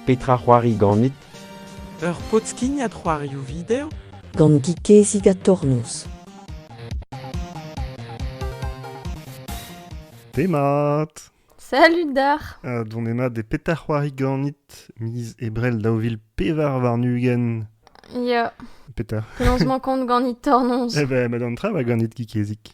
Petra c'hoari ganit? Ur pod-skignad c'hoarioù video? Gant Gikezig ha Tornoz. Pemat Salut Dar uh, Dont ema de petar c'hoari ganit miz ebrel daou vil pevar warn-ugent Ya. Petar Lancement compte ganit Tornoz. Eh ben, ma d'an tra va ganit Gikezig.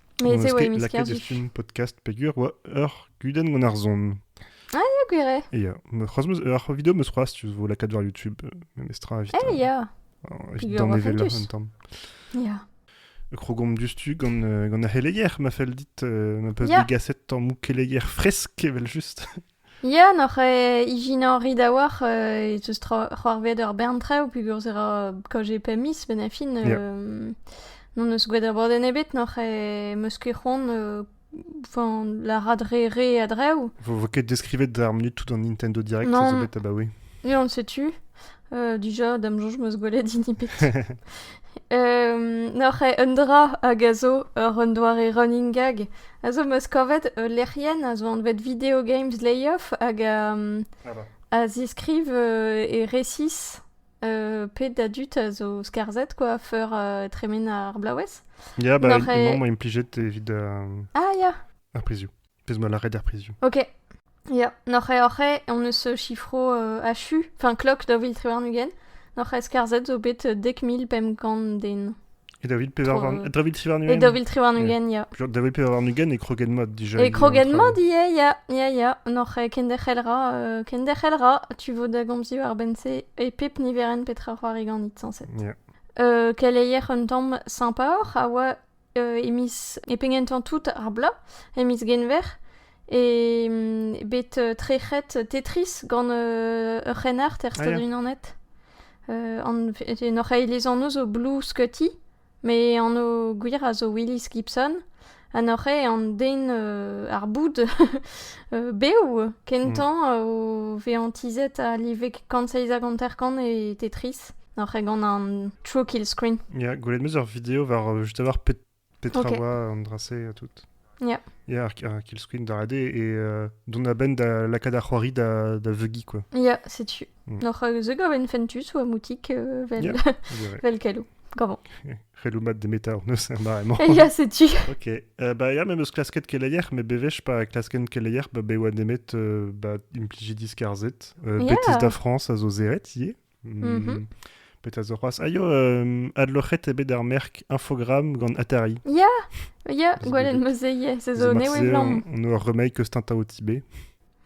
Mez eo e misker dit. Lakaet podcast peger oa ur gudenn gant ar zon. Ah, ya, gwir eo. Et ya, c'hoaz meus ur video meus c'hoaz, tu vo lakaat war YouTube, euh, memestra evit... Eh, ya. Evit danevellañ un tamm. Ya. Krogomp diouzhtu gant, euh, gant ar c'heleger, ma fell dit, euh, ma peus yeah. degaset tammou keleger fresk, evel just. Ya, n'oc'h ijinoriñ a-walc'h e teus c'hoarvezet ur bern traoù pegoulz e ra kaozeet pemp miz benn ar fin. N'hon eus gwelet abadenn ebet, n'oc'h meus ket c'hoant lârat re re a-dreñv. Vo ket deskrivet d'ar munut tout an Nintendo Direct, ça zo bet abaoe. Ya, on setu. dija, da'm soñj 'm eus gwelet hini bet. N'oc'h eo un dra hag a zo ur un doare running gag, a zo 'm eus kavet ul lec'hienn a zo anvet Video Games Layoff hag a, a ziskriv e resis pet a dud a zo skarzhet quoi feur tremen ar blaouez. Ya, bah, emañ implijet evit ar prizioù. pezh ma lâret er prizioù. Ok. Ya, n'oc'h oc'h on eus chiffro euh, achu, enfin klok da vil triwarn-ugent, n'oc'h eskarzet zo bet dek mil pemp kant den. Et da vil triwarn-ugent Et da vil triwarn-ugent, ya. Da vil triwarn-ugent e kroget mod déjà. E kroget mod, ya, ya, ya, ya. N'oc'h kenderc'hel ra, euh, kenderc'hel ra, tu vo da gomzio ar bense e pep niveren petra c'hoari ganit, sañset. Yeah. Euh, keleier un tamm sympa oc'h a oa e miz, e pegentañ tout ar bloaz, e miz Genver, e bet trec'het Tetris gant ur c'hrennard er Stad-Unanet. en hoc'h eilez anv zo Blue Scotty, me anv gwir a zo Willis Gibson, ha n'oc'h an den ar boud bev kentañ hmm. o vezañ tizhet a live kant seizh hag hanter-kant e Tetris. Oc'h e gant an True Kill Screen. Yeah, gwelet meus ur video war euh, juste avoir pet- petra Ok. oa an dra-se ha tout. Yeah. Yeah, ar, ar kill screen da rede et euh, dont a-benn da lakaat ar c'hoari da, da veugiñ quoi. Ja, setu. Mm. Oc'h euh, ze gav en fentus ou a moutik euh, vel, Yeah, on dirait. vel kalou. Gavon. C'helou mat de meta honnez er mare-mañ. Ja, setu. Ok, euh, bah ya, memes klasket keleier, mais bevesh pa klasken keleier, bah be oa nemet euh, bah impliji diskarzet, euh, Yeah. Bethesda France a zo zeret ie. Mhm. Petra zo c'hoazh? Aio, euh, adloc'het eo bet ar merk Infogramm gant Atari. Ya, ya, gwelet ma zeye, se zo ne evlamm. On a ur remake eus Tintao Tibé.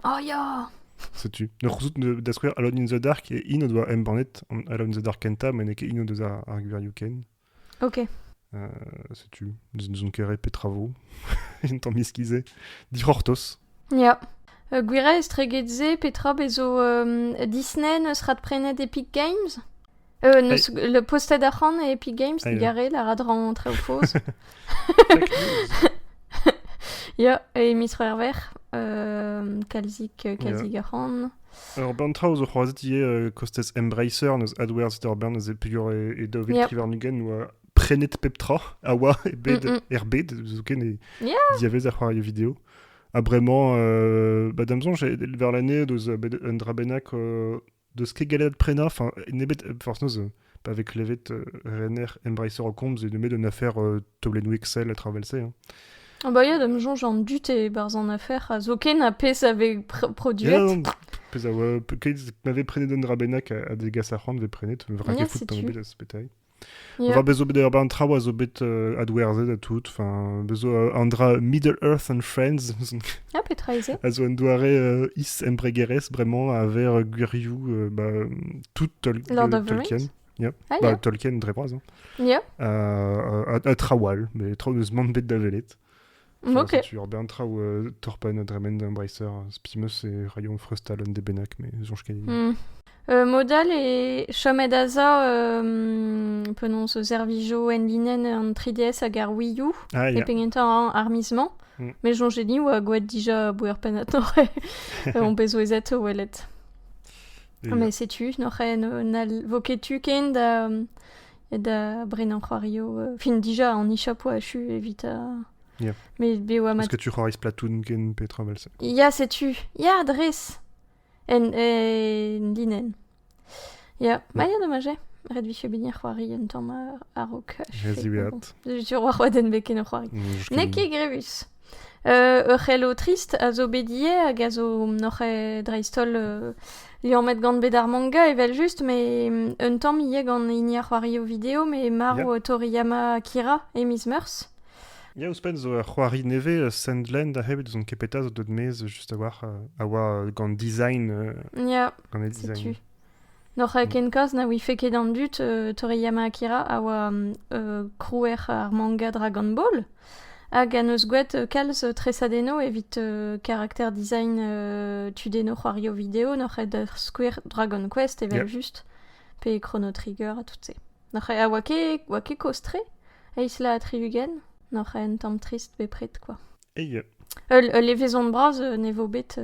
Oh ya! Setu. Ne c'houzout da skouer Alone in the Dark e in o doa embannet Alone in the Dark kenta, ma n'eo ket in o deus ar, ar gwirioù ken. Ok. Euh, setu, n'ouzon ket rei petra vo. Un tamm iskizé. Dic'hortoz. Ya. Uh, gwira estreget se, petra bezo um, Disney neus radprenet Epic Games euh, neus, Le posted arc'hant e Epic Games, Aïe. digare, la radran treo foz. Fake news. Ya, e Mistro Herver, euh, Kalzik, euh, Kalzik arc'hant. Ur bern traoù zo c'hoazh ivez kostez Embracer, n'eus adwerzh ur bern eus peogwir e daou vil tri warn-ugent oa prenet pep tra a oa e bed, er bed, zoken e diavez ar c'hoarioù video. Ha bremañ, euh, bah, da'm soñj, war l'année, deus un dra bennak euh, deus ket gallet prenañ, nemet, forc'h noz, pa vez klevet rener Embracer Comms et met une affaire taolennoù Excel à travers ça. Hein. Ah bah ya, da me soñj an dud e-barzh an affaire a zo ken a pezh avait produit. pezh a oa m'avait prenet un drabenac a degas ar c'hoant vez prenet, me vrak fout an bet a spetailh. Yeah. War bezo bet ur traoù a zo bet uh, adwerzhet a tout. Enfin, bezo uh, an dra Middle Earth and Friends. ah, petra eze A zo un doare uh, is embregerezh, vraiment, a ver gwirioù uh, bah, tout Tol Lord of the Tolkien. Rings yeah. Ah, bah, Tolkien, très proche. Hein. Yeah. Euh, à, trawal, mais eus mont bet da velet. Ok. Tu bien traou euh, Torpen, Dremen, Embracer, Spimus et Rayon Frustal, de Benac, mais Zonge hmm. Euh, Modal et Shomedaza euh, prononce Zervijo Enlinen an 3DS hag ar Wii U. Ah, yeah. an armisement. Mm. Mais Zonge ni oa goet dija bouer penatore on bezo ezet welet. Ha me setu, n'al vo ket tu ken da, da brenañ c'hoarioù. Euh, fin, déjà, en e-shop, ouais, je suis evit... Euh, yeah. Mais be oa Parce que tu c'hoariz platoon ken petra vel se? Ya, setu. Ya, dres. En, en linen. Ya, ma ya dommage. Ret vije bet c'hoari un tamm a-raok. Rez diweat. Sur war oa den bet ken o c'hoari. N'eo ket grevus. ur c'hello trist a zo bet ivez hag a zo n'oc'h dreist-holl liammet gant bed ar manga evel-just met un tamm ivez gant hini ar c'hoari o video met marv Toriyama Akira e miz Meurzh. Ya, ouzhpenn zo ur c'hoari nevez, euh, Sandland, a-hed ouzon ket petra zo deut maez, juste a oa, euh, a oa euh, gant design, gant e design. N'oc'h ken kalz na ouife ket an dud Toriyama Akira a oa krouer ar manga Dragon Ball hag en deus gwraet kalz tresadennoù evit karakter design tudennoù c'hoario video. N'oc'h ket da skouer Dragon Quest evel-just pe Chrono Trigger ha tout-se. N'oc'h ket, ha oa ket, oa ket kozh-tre, eizh laz ha tri-ugent. N'oc'h ket un tamm trist bepred, quoi. Ul, levezon bras ne vo bet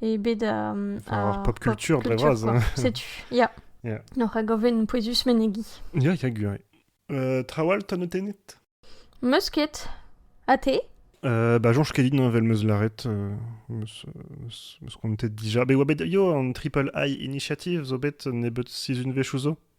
e bed a, ar pop culture dre vras. Setu, ya. Yeah. Noc'h a gaven pouezus menegi. Ya, ya, gwir. Euh, trawal, ta notennet Meus ket. A te euh, Bah, Jean, kedin vel meus laret. Euh, meus, meus, meus kontet dija. Be oa bet yo an Triple High Initiative zo bet nebet sizun vech ouzo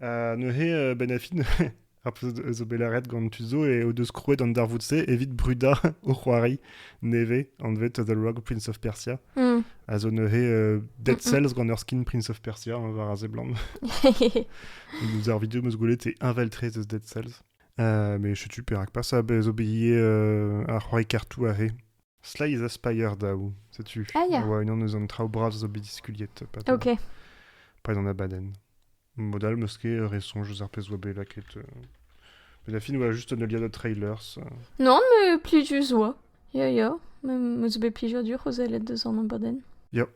Ha neuze, Benafin, ar pezh zo bet lâret gant tud zo, eo deus krouet an darvoud-se evit brudañ o c'hoari nevez, anvet The Rogue Prince of Persia, mm. a zo neuze uh, Dead Cells gant ur skin Prince of Persia, hein, war a seblant. Nous ar video meus gwelet e inveltrez eus Dead Cells. Uh, mais je suis perak pas, a bez obéi uh, ar c'hoari kartou a re. Sleiz ha Spire daou. Setu, Ah, ya. a oa unan eus an traoù bras zo bet diskuliet pad, Ok. pad an abadenn. Mod all, 'meus ket re soñj eus ar pezh oa bet lakaet. euh. Mais la fin oa juste un alia de trailers. euh. Non, mais plusieurs oa. Ya, ya. Mais me zo bet plusieurs dur o zellet deus an abadenn. Ya.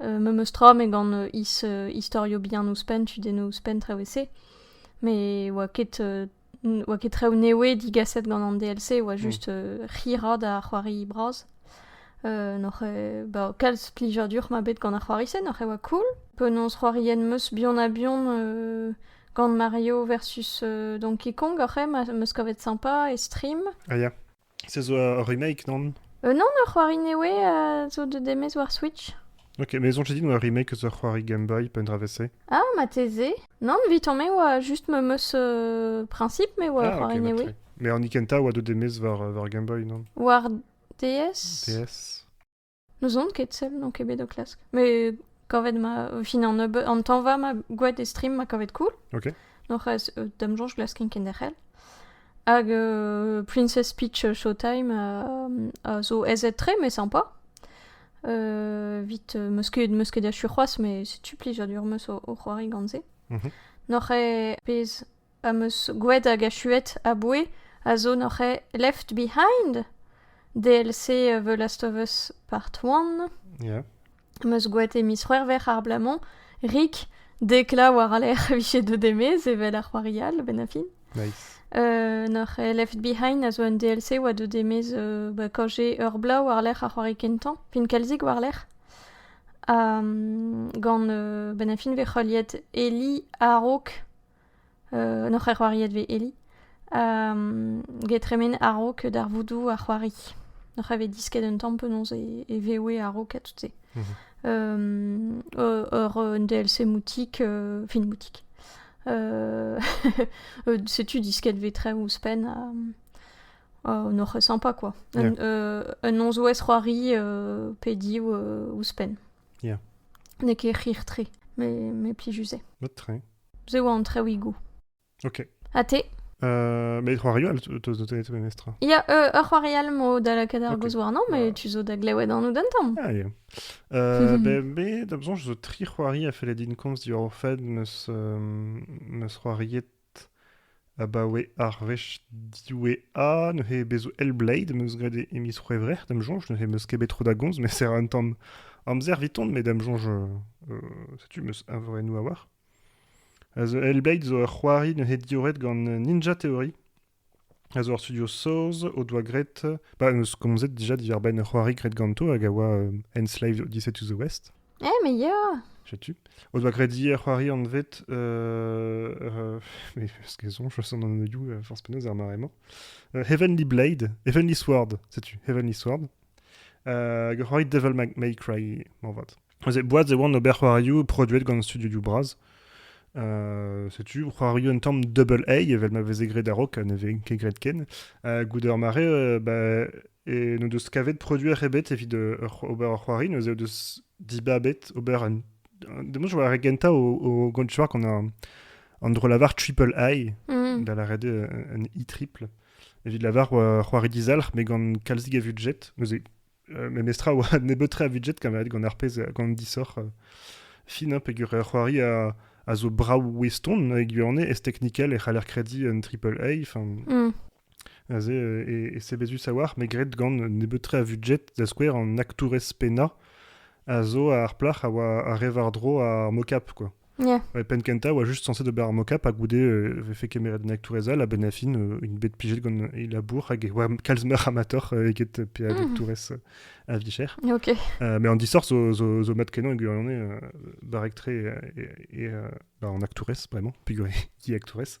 Memes tra met gant istorio bihan ouzhpenn, tudennoù ouzhpenn, traoù e-se. Met oa ket oa ket traoù newe digaset gant an DLC, oa just hirañ da c'hoari bras. N'oc'h ba kalz plijadur 'ma bet gant ar c'hoari-se, n'oc'h oa cool. Penaos c'hoarien 'meus buan-ha-buan gant Mario versus Donkey Kong oc'h eo 'meus kavet sympa e stream. Ah ya. Se zo ur remake, nann? Euh, non, ur c'hoari newe euh, zo deuet demez war Switch. Ok, mais zonte dit, eo ur remake eus ur c'hoari Game Boy, pe un dra vese. Ah, mateze. Non, viton me oa just me meus euh, principe me oa ah, c'hoari ok, newe. ok. Mais an Ikenta oa deuet demez war, euh, war Game Boy, non? War DS? DS N'ouzon ket sell, n'on ket bet o klask. Mais kavet ma, au final, nebeut, an tanva ma gouet e stream ma kavet cool. Ok. Norc'h, euh, dam joñj glasken kenderc'hel. Hag euh, Princess Peach Showtime euh, a zo ezet-tre, mais sympa. Euh, vite, euh, meusket, meusket achu c'hoaz, mais setu plijadur meus o, o c'hoari gant se. Mhm. Norc'h eo pez am eus gwed hag achuet aboue a zo noc'h eo left behind d'el-se The Last of Us Part One. Am eus gwet e miz C'hwec'hver abalamour rik deklañ war al lec'h e vije deuet e-maez evel ar c'hoari all benn ar fin. Nice. Uh, noc'h eo Left Behind a zo un DLC oa deuet e-maez uh, ba kaoze ur bloaz war-lerc'h ar c'hoari kentañ, fin kalzik war-lerc'h. Um, gant uh, benn ar fin vez heuliet Eli a-raok N'hor c'her c'hoariet vez Eli. get tremen a-raok darvoudoù ar c'hoari. N'hoc'h vez disket un tamm penaos e, e vewe a-raok ha tout-se. Mhm. ur un DLC moutik, fin moutik. setu disket vez tre ouzhpenn ha n'hoc'h eus sympa quoi. Un, yeah. un nozvezh c'hoari pediñ ouzhpenn. Yeah. N'eo ket c'hir-tre, mais, mais plijus eo. Mat-tre. Ze oa an traouigou. Ok. Ha te euh, Mais c'hoari all, teus notet memes tra Ya, euh, ur c'hoari all mo da lakaat ar gozh warnañ, mais tu zo da glewet an oud an tamm. Ah, yeah. Euh, ben, me, da besoin, je zo tri c'hoari a felle din komz diwar o fed, meus euh, meus c'hoariet Abaoe ar wech diwezhañ neuze bezo Hellblade am eus graet e miz C'hwevrer da'm soñj. Neuze am eus ket bet tro da gomz met serr an tamm amzer eviton met da'm soñj setu am eus eñvorennoù a-walc'h. A zo Hellblade zo ur c'hoari neuze diorret gant Ninja Theory. A zo ur studio saoz o doa graet... Bah am eus komzet dija diwar-benn ur c'hoari graet ganto hag a oa Enslaved Odyssey to the West. Eh, mais yeah Setu. O doa graet hier c'hoari anvet... Euh, euh, mais parce qu'elles ont, je sens dans nos you, euh, force penaos ar mare-mañ. Euh, Heavenly Blade, Heavenly Sword, setu, Heavenly Sword. Euh, roit Devil May Cry, mañ vat. Boaz e oan ober c'hoarioù produet gant studio du Braz. setu c'hoario un tamm double A evel ma veze graet a-raok ha ne veze ket graet ken goude ur mare ba, n'o deus kavet produer ebet evit ober ur c'hoari neuze o deus dibabet ober un demoz je war gentañ o, o gontuar qu'on a an dro lavar triple I mm. da lâret un I triple evit lavar c'hoari dizalc'h met gant kalzig a vudjet neuze Memestra a oa nebeut-tre a budget kamaet gant ar pezh, gant disoc'h. fin, hein, peger c'hoari a, a zo brav oueston e gwirionez, ez teknikel e c'haller krediñ un triple A, enfin, mm. aze e, e sebezus a-walc'h, me gred gant nebeut-tre a budget, da skouer an aktourez pennañ a zo ar plac'h a oa a re war-dro ar mocap, quoi. Yeah. E penn kentañ oa juste censé d'ober ar mocap ha goude euh, vefe kemeret an Tourez-Al a ben a fin euh, une bet pijet gant e labour hag e oa kalz meur amator euh, eget pe a mhm. Tourez a vicher. Ok. Euh, mais en dissort zo, zo, zo mat kenañ eget on est barrek tre et, et, et bah, on actourez vraiment, pigur e di actourez.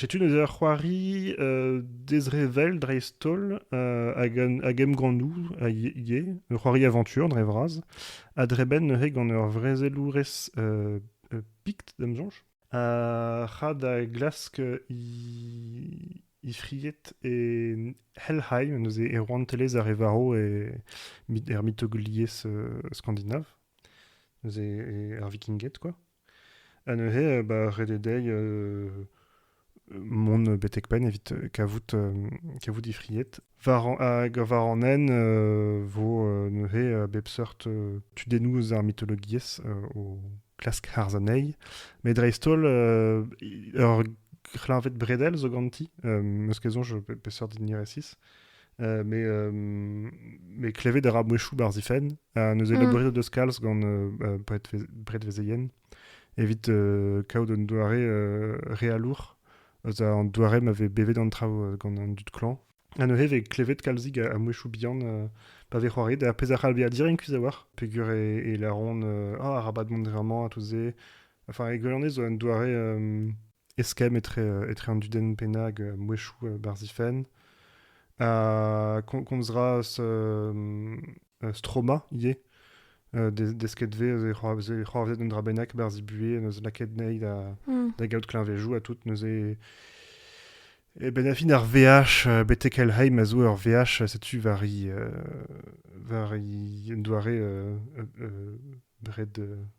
setu neuze ur c'hoari dezrevell dreist-holl hag emgannoù a ivez ur c'hoari aventure dre vras a drebenn neuze gant ur vrezelourez pikt da'm soñj a ra da glask he fried e Helheim neuze e rouantelezh ar re varv e er mitologiezh skandinav neuze ar vikinged quoi Ha neuze bah, ret eo dezhi mont betek-penn evit kavout, kavout he fried. War an, hag war an hent e vo neuze bep seurt tudennoù eus ar mitologiezh o klask harz anezhi. Met dreist-holl, ur c'hleñved bredel zo ganti, m'eus ket soñj peseurt din resis. mais, mais klevet a ra mouezhioù barzh he fenn. neuze mm. labouret o deus kalz gant predvezeien evit kaout un doare realour eus an doare ma vez bevet an traoù gant an dud klañv. Ha neuze vez klevet kalzig a, mouezhioù bihan pa vez c'hoaret, ar pezh a c'hall bezañ direnkus a-walc'h, peger e, e laron ah, arabat mont vraiment à tout se. Enfin, e gwelonez zo un doare eskemm etre, etre an dudenn pennañ hag mouezhioù barzifenn. a komzras Stroma ivez. Euh, desket ve eus e c'hoarvezet un dra bennak berzh e buhez neus lakaet nei da, mm. da gaout kleñvejoù ha tout neuze e ben a fin ar VH euh, betek Helheim a zo ur VH setu war i euh, war i un doare red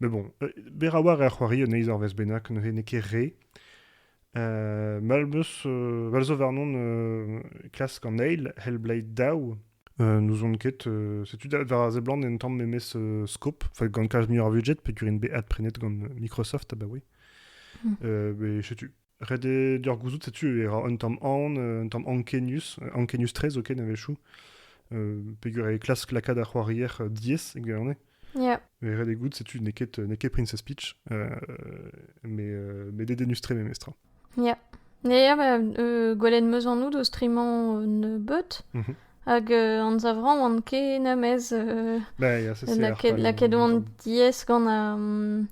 Mais bon, euh, Beraouar er c'hoari un eizh arvest bennak, ne n'eo ket re. Euh, mal meus, euh, mal zo warnon euh, klask an eil, Hellblade daou. Euh, N'ouzon ket, euh, setu da war a seblant en tamm memes euh, scope, fa gant kalz muioc'h ar budget, pe gurin bet adprenet gant Microsoft abaoe. Hmm. Euh, mais setu, Ret eo deoc'h gouzout setu e ra un tamm aon, euh, un tamm ankenius, ankenius-tre zoken a-wechoù, euh, peger e klask lakaat ar c'hoarier euh, diaes e gwirionez. Yeah. Mais ret eo goût, setu n'eo ket, n'eo ket Princess Peach, euh, mais, euh, mais dédénus-tre memestra. Yeah. Ja, ba, euh, gwelen meus anout eus trimañ un beut, Mhm. hag euh, anzavrañ oan ken amez euh, Bah, ja, ça c'est lakaet lakaet oan diaes gant ar, mm,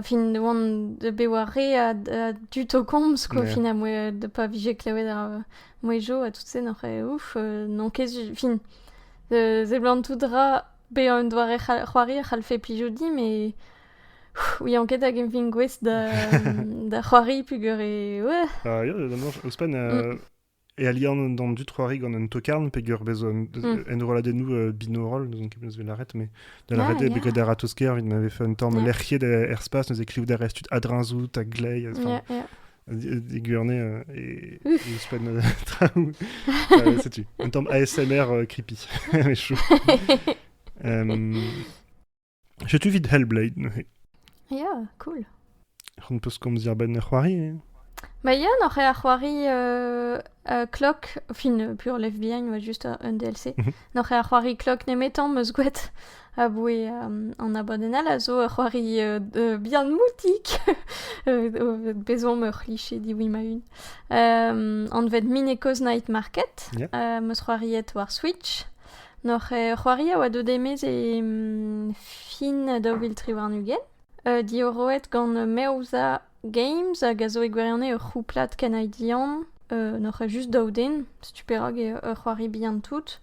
fin oan bet war re a-du o komz quoi fin ha moa pa vije klevet ar mouezhioù ha tout-se n'oc'h ouf n'on ket su- fin seblant tout dra bezañ un doare c'hoari a c'hallfe plijout dimp et ouian ket hag emvin gouest da da c'hoari peogwir e ouais. Ouzhpenn e alian d'an dud c'hoari gant un tokarn peger bez enrolladennoù euh, binaural n'ouzon ket beus lâret mais da lâret eo bet a-ratozh-kaer evit ma vefe un tamm lec'hiet er spas neuze klevout a rez tud adreñzout a glei e Guvernée euh, et ouzhpenn euh, traoù setu un tamm ASMR creepy mais chaud Setu evit Hellblade neuze. Ya, cool. C'hon peus komz diarbenn ar c'hoari eh? Ma ya, n'oc'h ar c'hoari euh, euh, Clock, fin euh, pur Left Behind, ouais, juste un, un DLC. Mhm. N'oc'h ar c'hoari Clock nemetan meus gouet aboue um, an abadenn all a zo ur c'hoari euh, de- bien moutik. Euh, Bezomp ur c'hliche diwi ma-un. Um, anvet Mineko's Night Market. Yeah. Uh, meus c'hoariet war Switch. N'hoc'h c'hoari a oa deuet e-maez e fin daou vil tri warn-ugent, diorroet gant Meoza Games hag a zo e gwirionez ur c'houplad kanadian. n'hoc'h eus just daou den, setu perak eo ur c'hoari bihan-tout.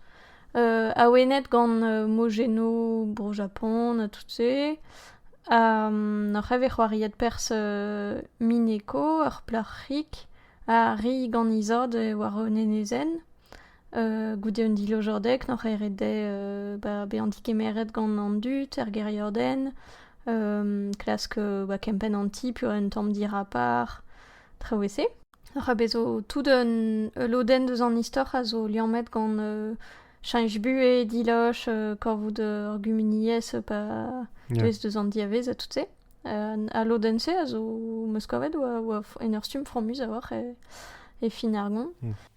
awenet gant Mogeno Bro-Japon ha tout-se. ha n'hoc'h eo bet c'hoariet perzh Mineko, ur plac'hig, ha ri gant he zad war un enezenn. goude un dilojadeg n'oc'h ket ret dezhe bezañ degemeret gant an dud er gêriadenn, klask kempenn an ti pe un tamm dirapar, traoù e-se. Oc'h bezo tout ul lodenn deus an istor a zo liammet gant cheñch buhez, diloch, kavout ur gumuniezh pa deuez deus an diavez ha tout-se. Al lodenn-se a zo 'm eus kavet 'oa en ur stumm fromus a-walc'h e fin ar gont.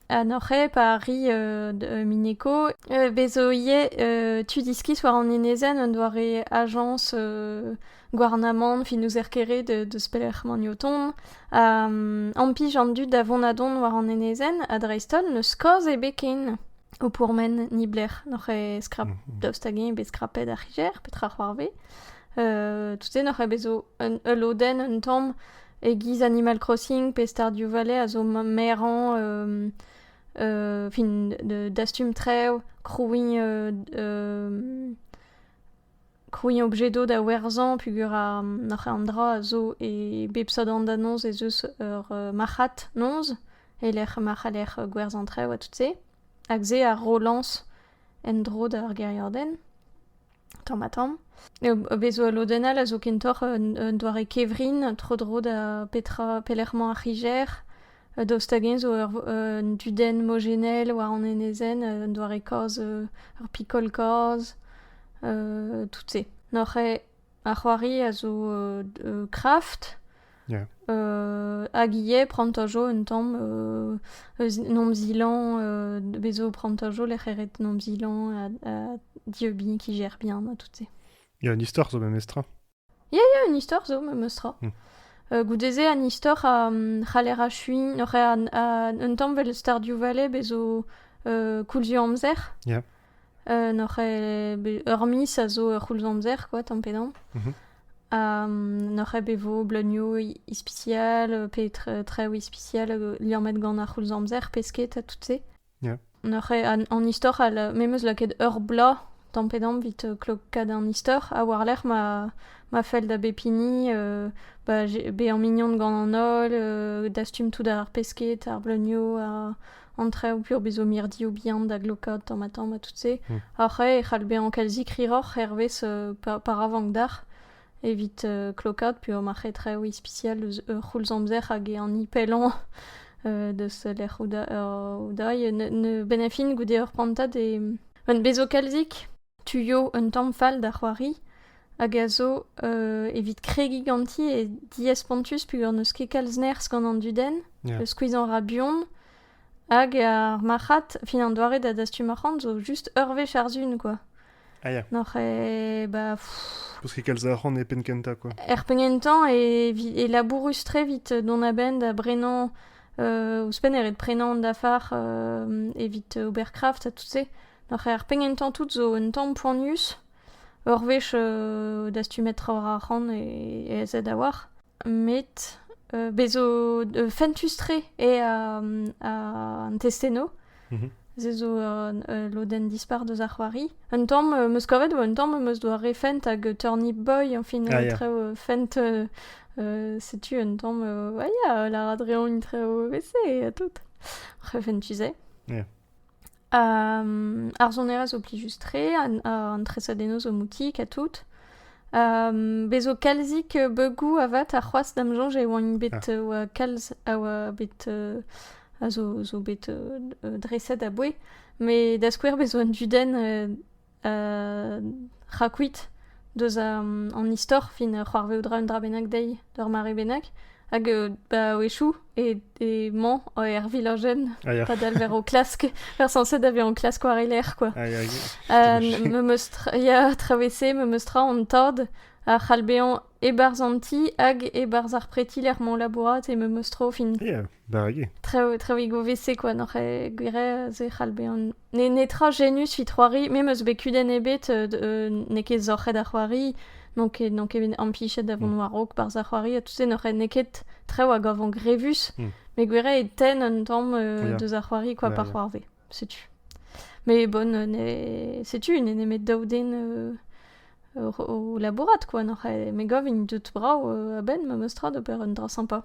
Ha n'oc'h ket pa arri euh, Mineko euh, vezo ivez euh, tu diskis war an enezenn un doare ajañs euh, gouarnamant fin n'ouzer ket re de- deus pelec'h emaint o tont. Ha mm, ampij an dud da vont-ha-dont war an enezenn ha dreist-holl n'eus kaoz ebet ken o pourmen ni blec'h n'oc'h ket skrap Mhm. daoust hag-eñ eo bet skrapet ar c'higer petra c'hoarvez. Euh, tout-se n'oc'h ket bezo un- ul lodenn un tamm E-giz Animal Crossing pe Stardew Valley a zo merañ fin dastum trev, krouiñ krouiñ objet do da werzhañ peogwir an dra a zo e bep seurt hanternoz ez eus ur marc'had-noz e-lec'h ma c'haller gwerzhañ trev ha tout-se hag se a rolañs en-dro d'ar gêriadenn. tamm-ha-tamm. Bez zo ul lodenn all a zo kentoc'h un doare kevrin tro-dro da petra pelec'h emañ ar c'higer. Daoust hag-eñ zo un dudenn mojennel war an enezenn, un doare kaoz, ur pikol-kaoz, tout-se. Noc'h eo ar c'hoari a zo kraft. Hag ivez prantañ jo un tamm eus en hom zilañ bez' zo prantañ jo lec'h e ret en hom zilañ ha dieubin kijer bien ha tout-se. Ya, un istor zo memestra? Ya, ya, un istor zo memestra. Goude-se an istor c'haller achuiñ oc'h un tamm 'vel Stardew Valley bez' zo koulz eo amzer. Ya. N'oc'h ur miz a zo ur c'houlz-amzer kwa tamm-pe-damm. Ha n'oc'h bet 'vo bleunioù ispisial pe traoù ispisial liammet gant ar c'houlz-amzer pesked ha tout-se. N'oc'h an istor all me 'meus lakaet ur bloaz tamm-pe-damm 'vit klokaat an istor ha war-lerc'h ma fell da bep hini bezañ mignon gant an holl, dastum tout ar pesked, ar bleunioù. an traoù peurbezo mirdioù bihan da glokaat tamm-ha-tamm ha tout-se. Hmm. Ar c'hae e c'hall bezañ kalzik hiroc'h hervez pa, pa ra vank d'ac'h evit klokaat peogwir ma c'he traoù ispisial eus ur c'houlz-amzer hag e an ipellañ deus lec'h Oudaï. Ne, ne benn a fin goude ur prantad e... bezo kalzik tuio un tamm fall da c'hoari hag a zo evit kregiñ ganti e diespontus peogwir n'eus ket kalz nerzh gant an dudenn skuizhañ a ra buan hag ar marc'had fin an doare da dastum arc'hant zo just ur wech ar sun quoi ah ya n'oc'h e ba Parce que kalz arc'hant e penn kentañ quoi. er penn kentañ e, vi- e labourus tre vit dont a-benn da brenañ euh, ouzhpenn e ret prenañ an dafar euh, evit ober craft ha tout se Ar c'her penn-kentañ tout zo un tamm poanius. Ur wech dastumet trawalc'h arc'hant ez a da war. Met bez' zo fentus-tre eo an testennoù. Se zo ul lodenn dispar deus ar c'hoari. Un tamm am eus kavet eo un tamm am eus doare fent hag Turny Boy añfin trev fent. Setu un tamm ya lârat reomp trev evese ha tout. Fentus eo. ar sonerezh zo plijus-tre, an tresadennoù zo moutik ha tout. Um, bezo kalzik beugou avat ha c'hoazh da'm soñj e oant bet ah. uh, kalz a oa bet uh, a zo, zo bet uh, dreset a-bouez. Mais da skouer bezo an dudenn uh, Rakuit deus an istor fin c'hoarvezout ra un dra bennak dezhi d'ur mare bennak hag ba o echoù emañ er vilajenn padal war o klask ar sañset da vezañ o klask war e lerc'h kwa. Memes tra ya tra vese memes tra an tad a c'hall bezañ e-barzh an ti hag e-barzh ar preti lec'h m'on labourat e memes tro fin... Ya, barrek eo. Traoù e vese kwa n'oc'h ket gwir ez e c'hall bezañ N'eo netra genus he c'hoari. Me 'm eus bet kudenn ebet, n'eo ket sorc'het ar c'hoari, n'on ket, n'on ket bet impichet da vont war-raok barzh ar c'hoari ha tout se. N'eo ket traoù a gavan grevus, met gwiriañ e tenn un tamm deus ar c'hoari kwa pa c'hoarvez. Setu. Mais bon, setu n'eo nemet daou den o labourat, quoi. Me gav int deut brav a-benn, memes tra, d'ober un dra sympa.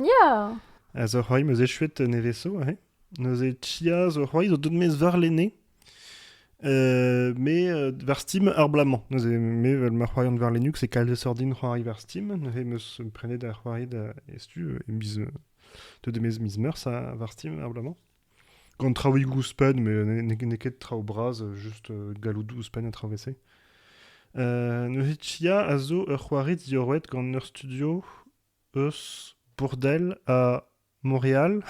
Ya! A zo c'hoari m'eus echuet neveso aze. Neuze Chia zo c'hoari zo deut mes varlene. Euh, mais euh, war Steam ar bla-mañ. Neuze me vel ma c'hoari an varlenuk c'est kalz sordin c'hoari war Steam. Neuze meus prenet da c'hoari da estu e miz de de mes miz meurs a war Steam ar bla-mañ. Gant traoùigoù ouzhpenn, mais n'eo ket traoù bras, just galloudoù ouzhpenn ha traoù vese. Euh, neuze Chia a zo ur c'hoari diorroet gant ur studio eus Bourdel ha Montreal,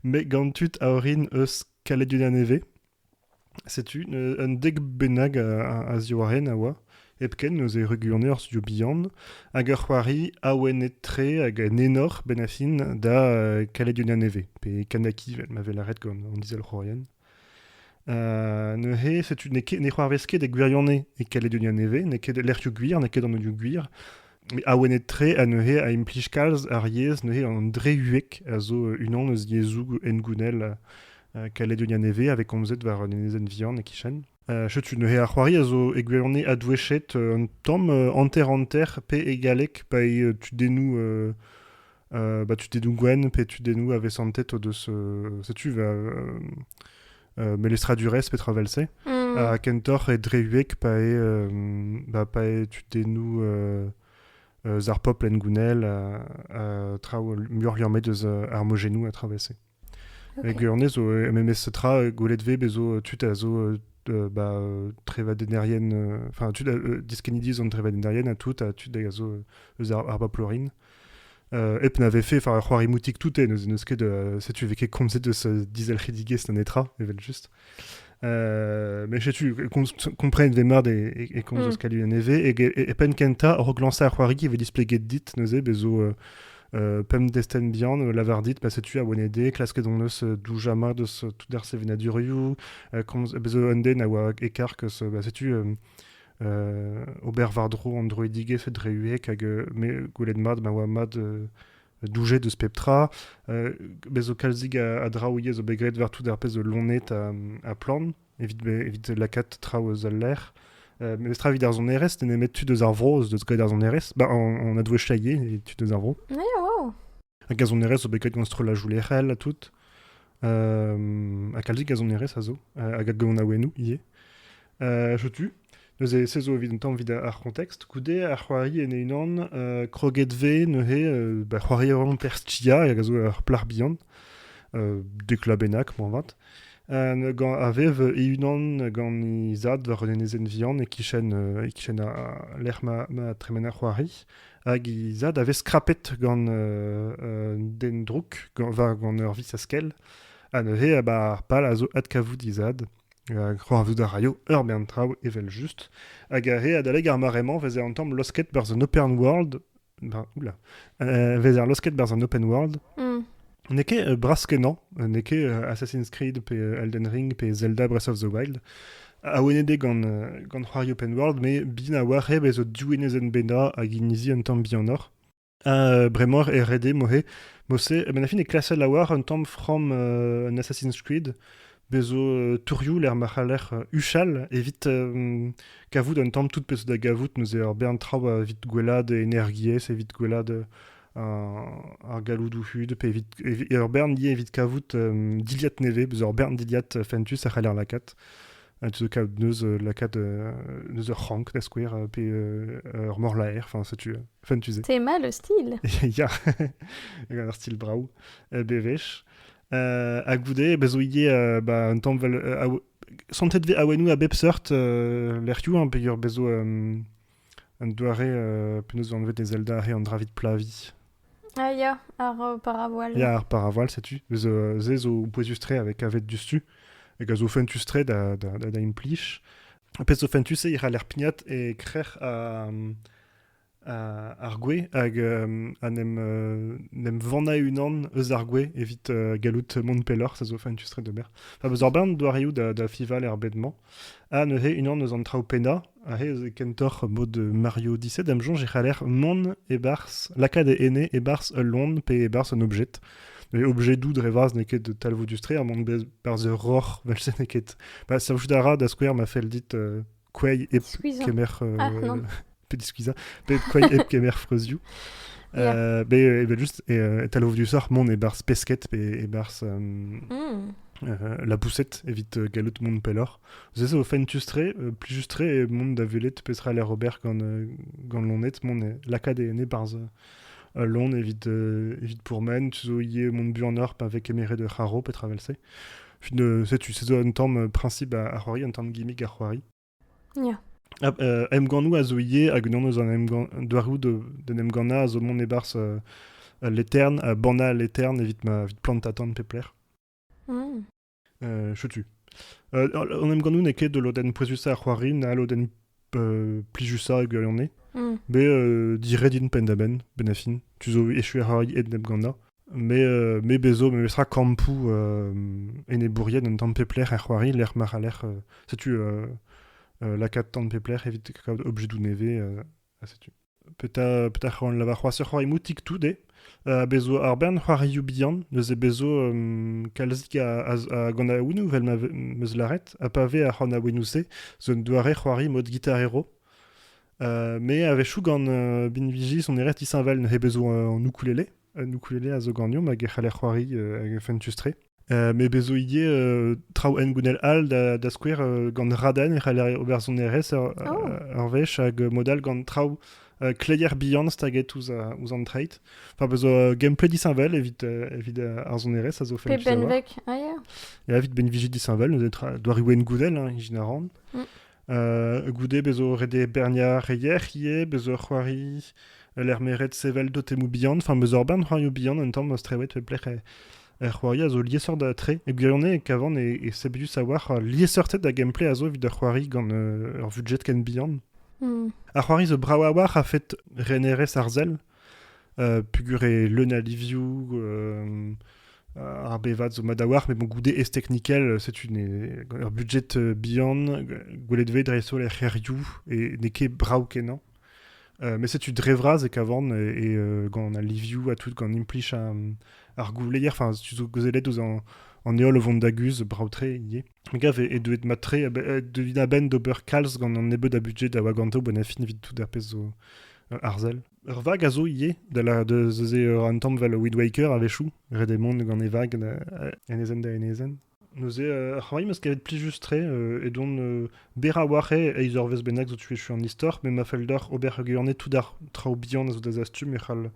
met gant tud a orin eus Kaledunia Nevez. Setu un dek bennak a ziwareen a oa, hepken eus e ruglone ar studio bihan, hag ur c'hoari awenet-tre hag en enor, benn ar fin, da Kaledunia Nevez, pe Kanaki, 'vel ma vez lâret gant an izelc'hourien. neuze, setu n'eo ket ne c'hoarvez ket e gwirionez e Kaledonia Nevez, n'eo ket lec'hioù gwir, n'eo ket an anioù gwir. awenet-tre ha neuze a implij kalz ar yezh, neuze an dre-huek a zo unan eus yezhoù hengounel Kaledonia Nevez, avait komzet war un enezenn vihan e-kichen. setu neuze ar c'hoari a zo e gwirionez adwechet un tamm hanter-hanter pe e galleg pa eo tudennoù bah, tudedoù gwenn pe tudennoù avesantet o deus... setu... Melestra Durès petra vel se. Mm. A kentoc'h e dreuek pa e, bah, pa e tudennoù euh, ar popl en gounel, a, a traoù muioc'h ur met eus ar mojennoù a travesse. Hag honnezh zo memes tra gwelet 'vez bez' zo tud a zo ba trevadennerien enfin tud diskennidi eus an trevadennerien ha tout ha tud a zo eus ar baplorin hep na vefe c'hoari moutik tout neuze n'eus ket setu 'vez ket komzet eus dizelc'hidigezh na netra evel-just. mais setu comprenne ve mad e, e, komz mm. eus kalu e, e, e pen kenta rok lansa ar c'hoari ve displeget dit neuze bezo euh, pem desten bihan euh, lavar dit pa setu a wenede klasket on eus euh, doujama deus tout ar sevenaduriou komz bezo un den a oa ekar keus ba setu ober vardro an droidige fet hag me goulet mad ma oa mad doujet eus pep tra. Euh, bez zo kalzik a, a draoù ivez zo bet graet war-tout ar pezh zo lonet ha, ha plant evit, evit lakaat traoù eus al lec'h. Euh, mes tra evit ar sonerezh, t'es nemet tud eus ar vro eus graet ar sonerezh. Bah, on, on a doué chaillé, les tud eus ar vro. Yeah, wow. Hag ar sonerezh zo bet graet gant strollajoù lec'hel ha tout. Euh, ha kalzik a sonerezh a zo, hag a gonaouennoù ivez. Setu neuze se zo evit un tamm evit ar contexte. Goude ar c'hoari en e-unan, uh, kroget vez neuze uh, ba c'hoari a Perstia hag a zo ur plac'h bihan, uh, deklabennañ moarvat. Uh, gant a vev e-unan gant he zad war un enezenn vihan e-kichen uh, e-kichen ar lec'h ma, ma tremen ar c'hoari. Hag he zad a vez skrapet gant uh, uh, den drouk gant, war gant ur vis a skell. Ha neuze, uh, ba, ar pal a zo adkavout he zad. C'hoarvezout a raio ur bern traoù evel-just, hag re adalek ar mare-mañ vez an tamm losket berzh an open world. Ben, oula. Euh, vez ar losket berzh an open world. Mm. N'eo ket euh, bras-kenañ, euh, n'eo ket euh, Assassin's Creed pe euh, Elden Ring pe Zelda Breath of the Wild. Awennet eo gant, euh, gant c'hoari open world, mais bin a-walc'h eo bezo div enezenn bennañ hag inizi un tamm bihanoc'h. Ha bremañ e rede moze. Moze, a-benn ar fin e klaser laouar un tamm from euh, un Assassin's Creed. Bez zo euh, tourioù lec'h ma c'haller euh, huchal evit euh, kavout un tamm tout pezh da gavout neuze ur bern traoù evit gwellat energiezh, evit gwellat euh, un- ar galloudoù hud pe evit, evit ur bern dizh evit kavout euh, dilhad nevez, beus ur bern dilhad euh, fentus a c'haller lakaat. tu zo kaout neuz lakaat neuz ur c'hrank da skouer pe ur morlaer enfin setu enfin tu sais c'est mal le style ya ur stil brav bewech ha goude bez zo ivez ba un tamm vel santet vez awenou a bep seurt lec'hioù hein peger bez zo Un doare penaos anvet e Zelda eo an dra evit plaviñ. Ah ya, ar paravoual. Ya, ar paravoual, setu. Se zo pouezus-tre avec avet diouzhtu. hag a zo fentus-tre da, da, da, implich. Un pezh zo fentus, eo ral er pignat e krec'h ar gwez hag a nem vanañ unan eus ar gwez evit gallout mont pelloc'h. Ça zo fentus-tre d'ober. Beus ur bern doareoù da, da fival er bed-mañ. Ah, neuze, unan eus an traoù pennañ, aze eus kentoc'h mod Mario 17, am soñj e c'haller mont e-barzh, lakaat e ene e-barzh ul lon pe e-barzh un objet. Neuze, objedoù dre vazh n'eo ket talvoudus-tre, ha mont barzh ur roc'h, vel-se n'eo ket... Bah, servijout a ra, da skouer, ma fell dit euh, kouezh hep Skuizhañ. kemer... euh, Ah, non. Pet skuizhañ, pet koain hep kemer freuzioù. Yeah. be evel just etal ovdiusoc'h mont e-barzh pesked pe e-barzh mm. la boussette evit gallout mont pelloc'h. Se zo fentus-tre, plus juste-tre mont da velet petra l'air ober gant, gant lonet, mont lakaat e e-barzh euh, lon evit, euh, evit pourmen, tu zo ie mont bu en orp avec emere de c'haro, petra vel se. Setu, se zo un tam principe a, a c'hoari, un tam gimmick a c'hoari. Ya. Ah, euh, emgannoù a zo ivez hag unan eus an emgann doareoù de- d'en emgannañ a zo mont e-barzh euh, Leterne, euh, bannañ Leterne evit ma evit plantañ tan pep lec'h. Mmh. Euh, chetu. Euh, an emgannoù n'eo ket ul lodenn pouezusañ ar c'hoari na ul lodenn euh, plijusañ e gwirionez. Mmh. Bet euh, dired int penn-da-benn, benn ar fin. Tu zo echu ar c'hoari en emgannañ. me bezo memestra kampoù enebourien un tamm pep lec'h er c'hoari lec'h ma ra lec'h setu lakaat tamm pep lec'h evit kaout objedoù nevez ha setu petra petra c'hoant lavar c'hoazh ur c'hoari moutik tout eo bezo ar bern c'hoarioù bihan neuze bezo kalzik a gant aouenoù vel ma meus lâret ha pa vez ar c'hant aouenoù-se zo un doare c'hoari mod gitarero me a-wechoù gant binviji soneret isheñvel n'he bezo an ukulele un ukulele a zo ganeomp hag e c'haller c'hoari hag fentus-tre. met bez zo ivez traoù hengounel all da, da skouer gant raden e c'haller ober sonerezh ur, oh. ur wech hag mod all gant traoù euh, kleier bihan staget ouzh ouzh an treit. Enfin, bezo euh, gameplay disheñvel evit euh, evit ar sonerezh a zo fentus Pe benveg aia Et evit ben viji disheñvel, doariou en goudel, hein, ijin a ran. Mm. goude bezo ret eo berniañ re yec'h ivez, bezo c'hoari lec'h meret sevel dotemoù bihan, enfin bezo ur bern c'hoarioù bihan un tamm ma strewet pep lec'h er c'hoari a zo liesseurt tre. E gwirionez, Kavan e sebelius a-walc'h liesseurted a gameplay a zo evit ur c'hoari gant ur budget ken bihan. Ar c'hoari zo brav a-walc'h a-fet renerezh arzel. pugur eo leun a livioù, ar bevad zo mat a-walc'h, mais bon, goude ez technikel, setu ur budget bihan, gwelet vez dreist-holl er c'hêrioù, et n'eo ket brav-kenañ. mais setu dre vras e kavan, et, gant al livioù ha tout, gant implij ar gouleier, enfin, tu zo gwezelet ouzh an heol o vont da guzh, brav-tre ivez. Me gav eo deuet mat-tre, deuit a-benn d'ober kalz gant an nebeud a budget a oa ganto, bon, a fin evit tout ar pezh zo Ur arzel. Ur vag a zo ivez, da lâret eus se un tamm vel Weed Waker a-wechoù, ret eo mont gant e vag enezenn da enezenn. Neuze, euh, c'hoari meus kavet plijus-tre euh, edon euh, berraouac'h eo eizh eurvezh bennak zo tu echu an istor, me ma fell deoc'h ober heugiane tout ar traoù bihan a zo da zastum e c'hall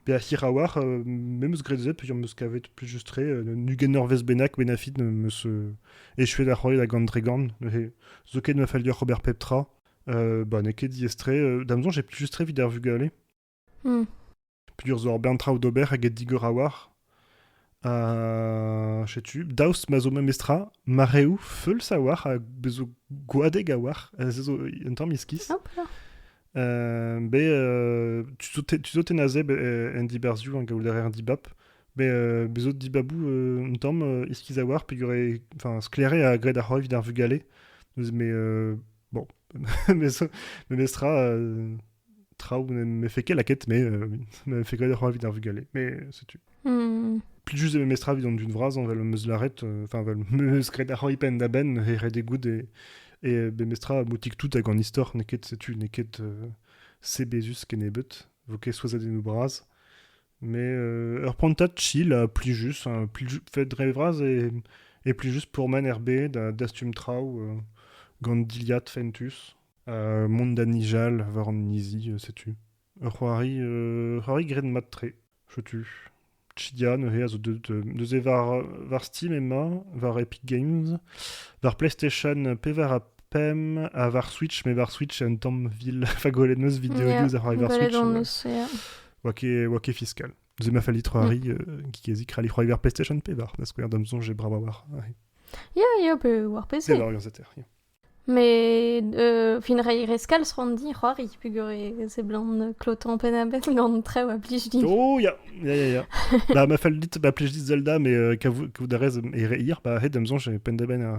bezañ hiraouac'h. Euh, me meus graet se peogwir meus kavet plijus-tre euh, n'ugent eurvezh bennak benafit meus euh, echuet da c'hoari da gant dregan. Neuze, zoken ma fell deoc'h ober pep tra. bah, n'eo ket diaes-tre. Da'm soñj, eo juste-tre evit ar vugale. Hmm. Pedur zo ur bern traoù d'ober eget digor a-walc'h. Uh, setu, daoust ma zo memestra mareoù feuls a-walc'h ha bezo gwadeg a-walc'h, euh, se zo un tamm iskis. Euh, be, euh, tu zo ten azeb en dibarzioù, en gaout an dibab, be bezo dibabou un tamm iskiz a-walc'h, pegur e, enfin, sklaeré a gred ar c'hoa evit ar vugale, mais Bon, memes tra, euh, traoù ne fait qu'elle quête, mais euh, ne fait que dire envie d'un vugale. Mais c'est tu. Hmm. Plus juste de mestra vidon d'une vras, on va le meuzlaret, euh, enfin, va le meuzgret ar ipen da ben, et rede goud, et, et bestra moutik tout hag an histor, neket, c'est tu, neket, euh, sebezus kenebet, voke soazadennou bras, Mais euh, ur prantad chill ha plijus. hein. Pliju- Fait dre vras e, e plijus pourmen er bed ha dastum traoù euh, gant dilhad fentus. Ha mont da nijal war an inizi, euh, setu. Ur c'hoari, euh, c'hoari graet mat-tre. Setu. Chidia neuze a zo deut, euh, neuze war, war Steam emañ, war Epic Games, war PlayStation pevar ha pemp, ha war Switch, mais war Switch un tamm vil. Fa gwelet 'neus videoioù ouzh ar c'hoari war Gwelet Switch. hon eus, yeah. oa ket, oa ket fiscal. Ze ma falli c'hoari, mm. euh, gezik rali c'hoari war PlayStation pevar, da skouer, dam zonj e brava war. Ya, ya, pe war PC. C'est l'orientateur, yeah. Mais euh, fin rei reskal di c'hoari, pugure se blan klotan penabel gant tre oa plij di. Oh, ya, ya, ya, ya. Ba, ma fal dit, ba plij dit Zelda, mais euh, kav da rez e re hier, ba, hed am zonj e pendaben a...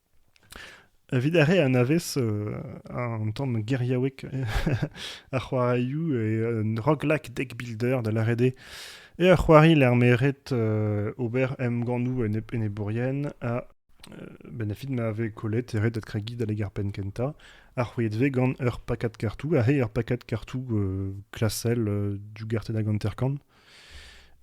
Evit ar re anavez an tamm geriaoueg ar c'hoarioù eo Roglak Deck Builder da lâret eo eo ur c'hoari lec'h m'eo ret ober emgannoù enebourien ha benn ar fin ma vez kollet e ret adkregiñ adalek ar penn kentañ ha c'hwezhet vez gant ur pakad kartoù ha ur pakad kartoù klasel dougartenn hag hanter-kant.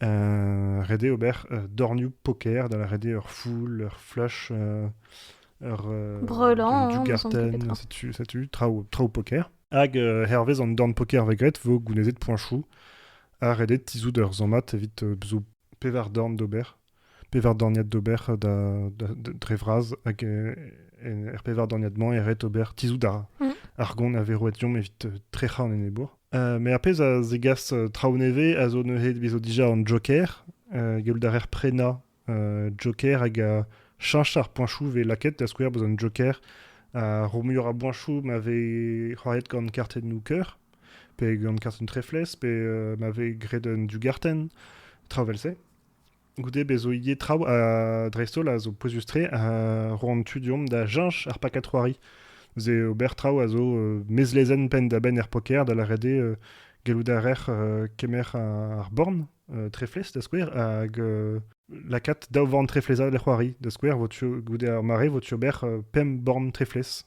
ret eo ober dornioù poker da ret eo ur foul, ur flash, ur Breulant, du garten, setu, setu traoù, traoù poker. Hag hervez an dorn poker va graet vo gounezet poinchou ha redet tizhout ur zammad evit zo pevar dorn d'ober pevar dorniad d'ober dre vras hag er pevar dorniad-mañ e ret ober tizhout mhm. ar gon a veroetiom evit trec'hañ an enebour. met ar pezh a zegas traoù nevez a zo neuze bezo dija an Joker gallout a reer prenañ Joker hag a cheñch ar poañchoù vez lakaet da skouer beus an Joker a ro muioc'h a boañchoù ma vez c'hoariet gant kartenn Hooker pe gant kartenn Treflez pe ma vez graet un dugartenn traoù vel-se. Goude bezo ivez traoù dreist-holl a zo pouezus-tre ha roa an tu deomp da cheñch ar pakad c'hoari. Neuze ober traoù a zo mezlezenn penn-da-benn er poker, da lâret eo gallout a rec'h kemer ar born treflez, da skouer, hag lakaat daou vorn treflez all er c'hoari. Da skouer, goude ar mare, vo tu ober pemp born treflez.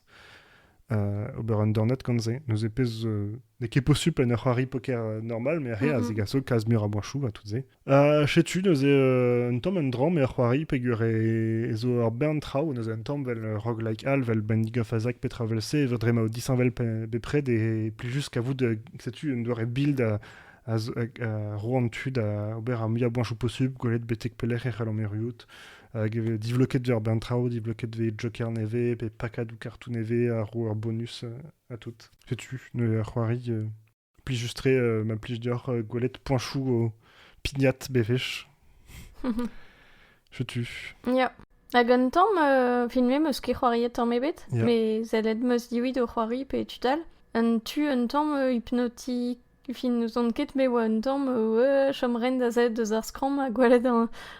ober un dornad gant se. Neuze pezh n'eo ket posupl en ur c'hoari poker normal, met ar re a zigaso kalz meur a boachoù ha tout se. Ha setu neuze euh, un tamm un dra me a c'hoari peger e, e zo ur bern traoù neuze un tamm vel euh, roguelike all vel Binding of Isaac petra vel-se zo dre ma eo disheñvel pe- bepred et plus juste kavout euh, setu un doare build a, a, zo- a ro an tu da ober ar muiañ boañchoù possibl gwelet betek pelec'h e c'hell an erruout hag e vez divloket dezhe ur bern traoù divloket vez Joker nevez pe pakadoù kartoù nevez a ro ur bonus euh, à tout setu neuze a c'hoari euh, Plijus-tre euh, ma plij deoc'h euh, gwelet poinchoù o pignat bewech. Setu. Ya. Hag un tamm, euh, fin me meus ket c'hoariet tamm ebet, Ya. me zellet meus diwit o c'hoari pe tud all. Un tu un tamm euh, hypnotiz fin n'ouzon ket, me oa un tamm euh, ouais, chom ren da zellet deus ar skramm ha gwelet an,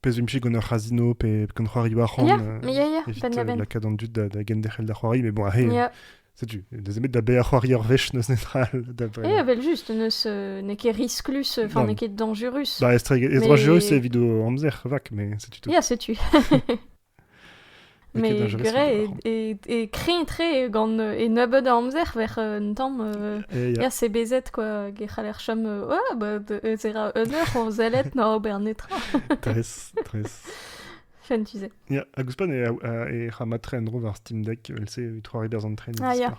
Pezh 'vimp gant ur c'hazino pe gant c'hoarioù arc'hant evit lakaat an dud da genderc'hel da c'hoari. Mais bon, ahe, setu, n'eus nemet da baeañ c'hoari ur wech n'eus netra all da baeañ. Eh, evel-just, n'eo ket risklus, enfin, n'eo ket dangerus. Bah, ez dangerus evit o amzer, vac, mais setu tout. Ya, setu. Mais purée, et, et, créé gant euh, e nebeud a amzer vers euh, un tamm euh, ya sebezet quoi ge c'haller chom euh, oh, bah, ez era un eur o zellet na ober netra tres tres Fen tu sais. Ya, a guspan e, e, e ra matre en dro war Steam Deck, else e trois ribers en train ah, ya.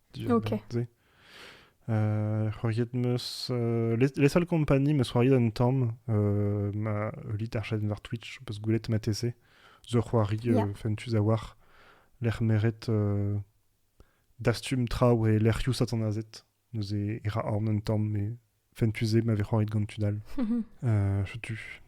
diwezhañ-se. c'hoariet 'meus Les Seules Compagnies 'meus c'hoariet un tamm ma ul litarshenn war Twitch 'peus gwelet matese zo c'hoari fentus a-walc'h lec'h meret dastum traoù e lec'hioù satanazet neuze e ra aon un tamm met fentus eo ma vez c'hoaret gant tud all. uh, tu.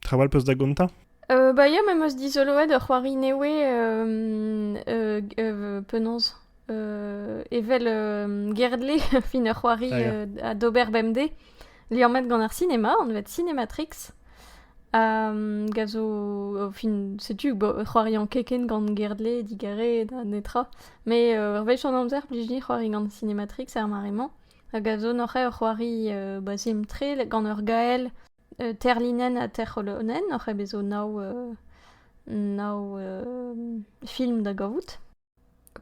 Traoù all peus da gontañ euh, Bah ya, ma meus dizoloet ur c'hoari newe euh, euh, euh, penaos euh, evel euh, Gerdle fin ur c'hoari ah, yeah. euh, d'ober bemdez liammet gant ar sinema, on vet Cinematrix. Um, gazo, fin, setu c'hoarian keken gant Gerdle, digare, da netra. Mais euh, ur wech an amzer, blij di c'hoari gant Cinematrix er mare-mañ. Hag a zo neuze ur c'hoari bazhim-tre gant ur gael terlinenn ha terc'holonenn. Neuze bez' zo nav nav film da gavout.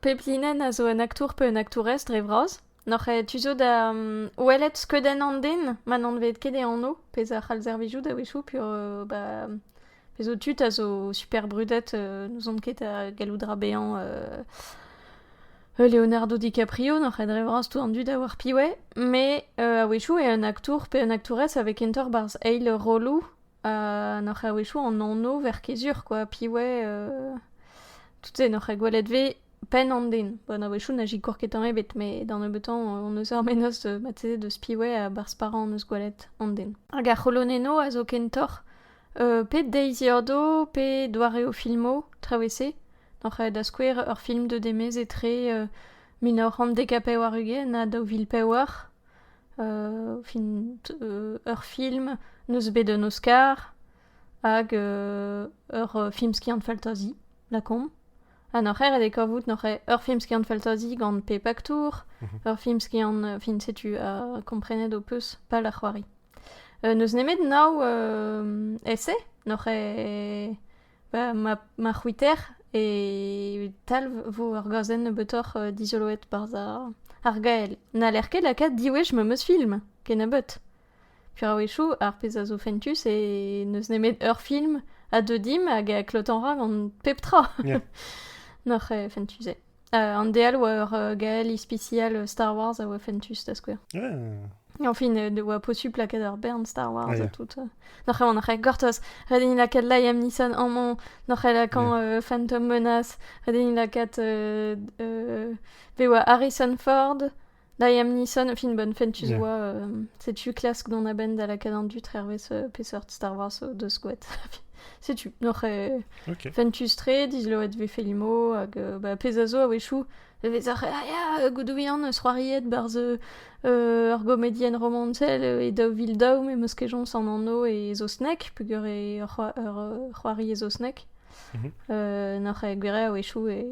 Pep linenn a zo un aktour pe un aktourez dre vras. Neuze tu zo da welet skeudenn an den ma n'anvet ket e anv, pezh a c'hall servijout a-wechoù, peogwir ba... Pezo tud a zo super brudet, n'ouzon ket a gallout ra bezañ Leonardo DiCaprio, n'oc'h ket dre vras tout an dud a oar piv eo, met a-wechoù eo un aktour pe un aktourez a vez kentoc'h barzh eil rolloù ha n'oc'h ket a-wechoù an anv verkezur quoi, piv eo, tout-se n'oc'h ket gwelet 'vez penn an den. Bon a-wechoù na zikour ket tamm ebet, met da nebeutan hon eus ar menoz marteze deus piv eo ha barzh parañ hon eus gwelet an den. Hag ar c'holonennoù a zo kentoc'h Pe deiz Yordo pe doareoù filmoù, traoù-se. Oc'h aet da skouer ur film deuet e-maez etre mil nav c'hant dek ha pevar-ugent ha daou vil pevar. fin ur film n'eus bet un Oscar hag ur film skiant-faltazi, lakaomp. Ha n'oc'h ket ret eo kavout n'oc'h ur film skiant-faltazi gant pe paktour, mhm. ur film skiant, euh, fin setu, uh, komprenet ho peus, pal ar c'hoari. Uh, n'eus nemet nav uh, essai n'oc'h bah, ma, ma c'hwiter e talv vo ur gazenn nebeutoc'h uh, dizoloet par ar gael. N'haller ket lakaat diwech ma meus film, kenabeut. Pirawechoù, ar pezh a zo fentus, eo n'eus nemet ur film a deu dimp hag a klotan ra gant pep tra. Yeah. Noc'h eo fentus eo. Uh, an DL oa ur uh, gael ispisial uh, Star Wars a oa fentus, da skouer. Yeah. Enfin, ne oa posupl lakaat ur bern Star Wars yeah. ha tout. Uh. Noc'h eo an gortoz. Ret int lakaat Liam Neeson amañ, noc'h eo lakaat yeah. uh, Phantom Menace, ret int lakaat uh, uh, bewa Harrison Ford, Da Liam Neeson, fin bonne fin, tu yeah. vois, euh, sais-tu klask dans la benne da lakadin du hervez euh, peseurt Star Wars euh, de squat. sais-tu Noc'h euh, okay. fentustre, disloet ve felimo, hag euh, bah, pezazo a wechou, vezar, ah ya, goudouian, zroariet barz euh, argomedien romantel e daou vil daou, me moskejon san anno e zosnek, pugur e c'hoari e zosnek. Euh, N'oc'h ket gwir a-wechoù e,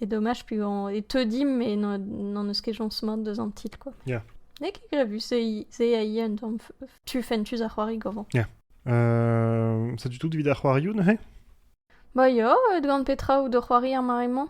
e domaj, puis on, e teu dimp e n'en eus ket joñs mat deus an titl, quoi. Yeah. N'eo ket grevu, se a ia un tamm tu fentus a c'hoari govan. Yeah. Euh, ça du tout vit a c'hoarioù neuze Ba ya, gant petra out o c'hoari ar mare-mañ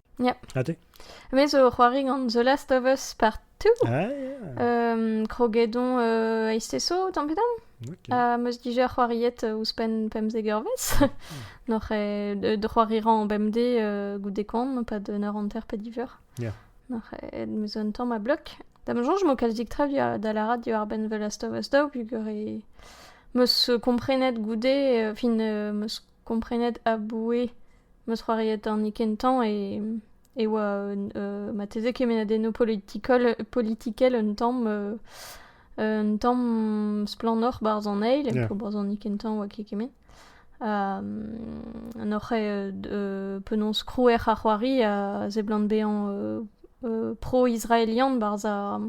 Ja. Ha te? Me zo o c'hoari gant The Last of Us Part 2. Ah, ja. Um, krogedon uh, eisteso, tamm-pe-tamm. Okay. Ha meus dija c'hoariet euh, ouzhpenn pemzek eurvezh. Noc'h eo d c'hoari ran bemdez euh, goude koan, pas d'un heure hanter pe div eur. Ja. Noc'h eo meus un tamm a blok. Da ma soñj m'o kalzik tra da lârat diwar-benn The Last of Us daou, pugur e meus comprenet goude, euh, fin, euh, meus komprenet aboue ma c'hoarier dornikenn tañv e oa marteze kemennadennoù politikel politikel un tamm un tamm splannoc'h 'barzh an eil pro barzhonikenn tañv oa ket kement n'oc'h penaos krouer ar c'hoari a seblant bezañ pro-israelian 'barzh ar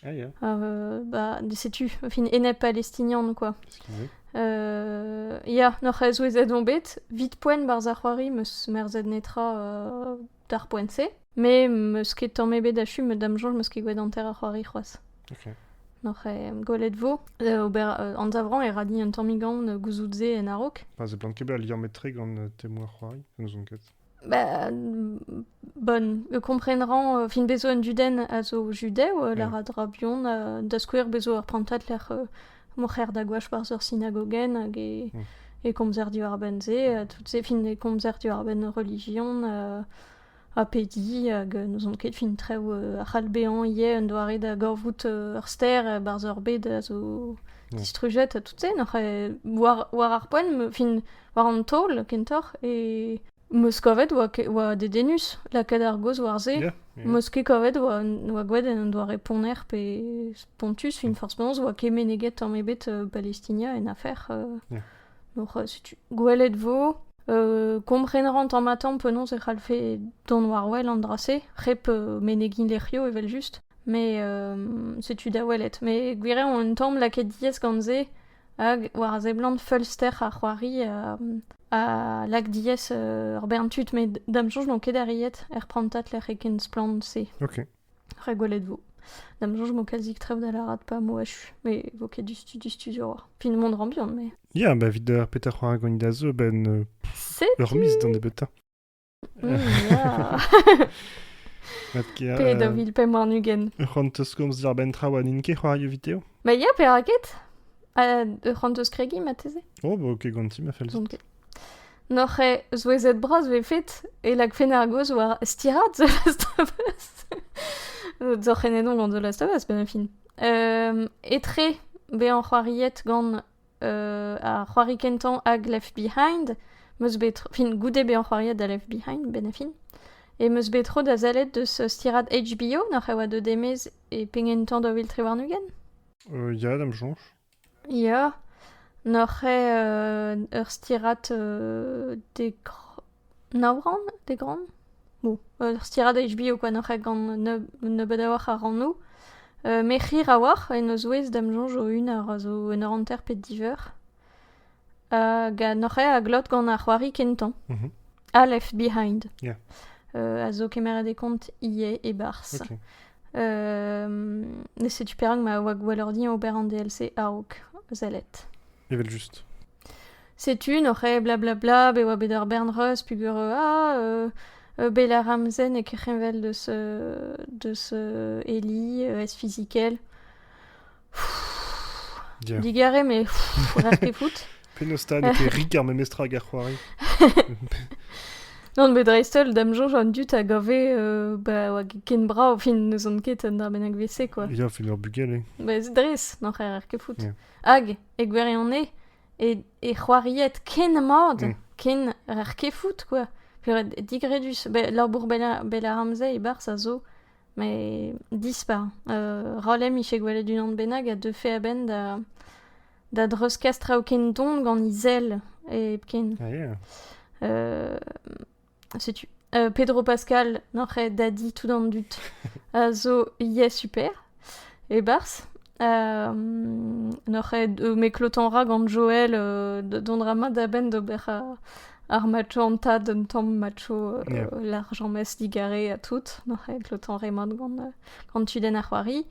Ah, yeah. euh, bah, setu, fin, enep palestinian, quoi. Excusez. Euh, ja, noch ez ouezet on bet, vit poen barz ar c'hoari meus merzet netra euh, d'ar poent-se, me meus ket tamm ebet achu, me dam jonj meus ket gwelet anter ar c'hoari c'hoaz. Ok. Noch e gwelet vo, euh, ober euh, anzavran e radi un tammig gant gouzout ze en arok. Pas e blant ket bet ar liammetre gant euh, temoù ar c'hoari, n'ouzon ket. Bah, bon, kompren ran, fin bezo an duden a zo judev, lec'h a dra buan, da skouer bezo ur prantad lec'h m'o c'her da gwash barzh ur sinagogenn hag e, e komzer diwar-benn se, tout se, fin e komzer diwar-benn relijion ha pediñ, hag n'ouzon ket fin traoù a c'hall bezañ ivez un doare da gorvout ur ster barzh ur bed a zo distrujet, ha tout se, war, war ar poent, fin War an taol, kentoc'h, e... Meus kavet oa, oa dedennus lakaat ar gaoz war se. Yeah, yeah. Meus ket kavet oa, oa gwelet en un doare ponner pe spontus. Fin forzh penaos oa ket meneget tamm ebet euh, Palestina en afer. euh. Yeah. Donc euh, setu, gwelet vo, euh, kompren ran tamm-ha-tamm penaos e c'hallfe dont war-wel an dra-se, hep euh, menegin lec'hio evel-just. Mais euh, setu da welet. Mais gwir eo, un tamm lakaet diaes gant se, Hag war a seblant feulster ha c'hoari ha lak diaes ur bern tud met da'm soñj n'on ket arriet er prantad lec'h eo ken splann-se. Ok. Re gwelet 'vo. Da'm soñj vo kazik trev da lârat pa vo achu. Me vo ket du stu- du studio war. Fin mont rambihan, mais... Ya, ba 'vit ar petra c'hoari ganin da zo a-benn... Setu... Ur miz d'an nebeutañ. Pe da vil pemp warn-ugent. Ur c'hant teus komz diarbenn traoù ha n'int ket c'hoario video Ba ya, perak ket Ur c'hant teus kregi mateze Oh, bah ok, ganti ma fel Donc, Noc'h eo zouezet bras vefet e lagfen ar goz war stirat The Last of Us. Zoc'h en edon gant The Last of Us, ben fin. Etre bezañ c'hoariet gant ar c'hoari kentañ hag Left Behind 'meus bet tro- fin goude bezañ c'hoariet da Left Behind benn a fin e 'meus bet tro da sellet deus stirad HBO nac'h e oa deuet e-maez e pegen tamm da vil tri warn-ugent. ya da'm soñj. ya nac'h eo ur stirad dekr- Nav rann, dek rann, bo, ur stiradez bio kwa n'oc'h ket gant nebeut a-walc'h a rannoù. Me c'hir a-walc'h en o zouez da'm soñj o-un a ra zo un ur hanter pe diveur. ga n'oc'h ket a glot gant ar c'hoari kentañ. A left behind. Ya. a zo kemeret e kont ivez e-barzh. Ok. setu perak ma oa gwelloc'h din ober an DLC a-raok sellet. Evel-just. Setu noc'h eo blablabla be oa bet ar bern reuz peogwir ah bel ar ramzenn eo kerc'henvel deus deus Eli ez-fizikel. Digare met rer ket fout. Penaos 'ta n'eo ket rik ar memestra hag ar c'hoari? Non bet dreist-holl da'm soñj an dud a gave ba oa ken brav fin n'ouzon ket un dra bennak vese quoi. Ya fin ur bugel eo. Ba ez dres noc'h rer ket fout. Hag e gwirionez e c'hoaried ken mat, ken ur kefout quoi. Pered digredus. Labour bell ar amzer e-barzh a zo, met dispar. Rolem ije gwelet unan bennak a deufe a-benn da da dreuzkas traoù ken don gant he sell hepken. setu. Euh, Pedro Pascal, n'oc'h Daddy tout en dut, euh, zo yeah super, e bars. Euh, n'oc'h euh, me klotan ra gant Joel euh, don rama da ben d'ober euh, ar macho an tad un tamm macho euh, yeah. l'argent mes digare a tout. N'oc'h klotan remat gant, euh, gant tuden ar c'hoari.